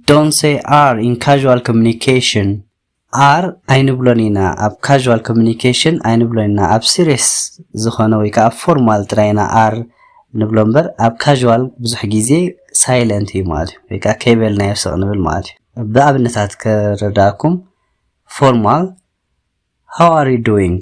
Don't say are in casual communication ኣር ኣይንብሎን ኢና ኣብ ካዥዋል ኮሚኒኬሽን ኣይንብሎን ኢና ኣብ ሲሪየስ ዝኾነ ወይ ከዓ ፎርማል ጥራይ ኢና ኣር ንብሎ እምበር ኣብ ካዥዋል ብዙሕ ግዜ ሳይለንት እዩ ማለት እዩ ወይ ከዓ ከይበልናዮ ስቕ ንብል ማለት እዩ ብኣብነታት ከረዳእኩም ፎርማል ሃው ኣር ዩ ዱዊንግ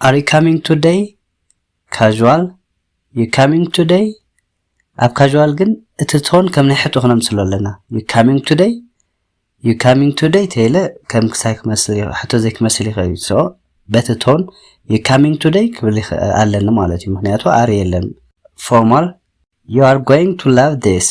Are you coming today? Casual You coming today? ኣብ ካዥዋል ግን እቲ ቶን ከም ናይ ሕቶ ክነምስሎ ኣለና ዩ ካሚንግ ቱደይ ዩ ካሚንግ ቱደይ ተይለ ከም ክሳይ ክመስል ሕቶ ዘይክመስል ይኽእል እዩ ሶ በቲ ቶን ዩ ካሚንግ ቱደይ ክብል ኣለኒ ማለት እዩ ምክንያቱ ኣር የለን ፎርማል ዩ ኣር ጎይንግ ቱ ላቭ ዲስ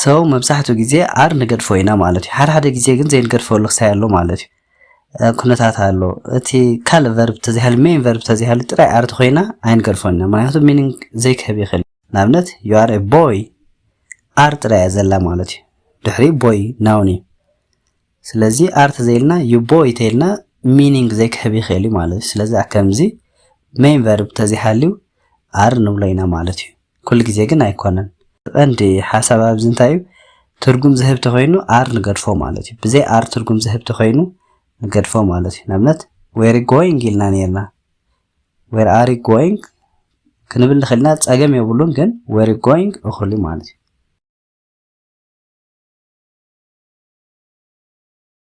So መብዛሕትኡ ግዜ ኣር ንገድፎ ኢና ማለት እዩ። ሓደ ሓደ ግዜ ግን ዘይንገድፈሉ ክሳይ ኣሎ ማለት እዩ። ኩነታት ኣሎ እቲ ካልእ ቨርብ ተዘይሃልዩ ሜን ቨርብ ተዘይሃልዩ ጥራይ ኣር ተኮይና ኣይንገድፎን ኢና ምክንያቱ ሚኒንግ ዘይክህብ ይኽእል ንኣብነት ዩ ኣር ቦይ ኣር ጥራይ እያ ዘላ ማለት እዩ ድሕሪ ቦይ ናውን እዩ ስለዚ ኣር ተዘይልና ዩ ቦይ ተይልና ሚኒንግ ዘይክህብ ይኽእል እዩ ማለት እዩ ስለዚ ከምዚ ሜን ቨርብ ተዘይሃልዩ ኣር ንብሎ ኢና ማለት እዩ ኩሉ ግዜ ግን ኣይኮነን። እቲ ቀንዲ ሓሳብ ኣብዚ እንታይ እዩ ትርጉም ዝህብ ተኾይኑ ኣር ንገድፎ ማለት እዩ። ብዘይ ኣር ትርጉም ዝህብ ተኾይኑ ንገድፎ ማለት እዩ። ንኣብነት ዌር ጎይንግ ኢልና ነይርና ዌር ኣር ጎይንግ ክንብል ንኽእል ኢና ጸገም የብሉን ግን ዌር ጎይንግ እኹል እዩ ማለት እዩ።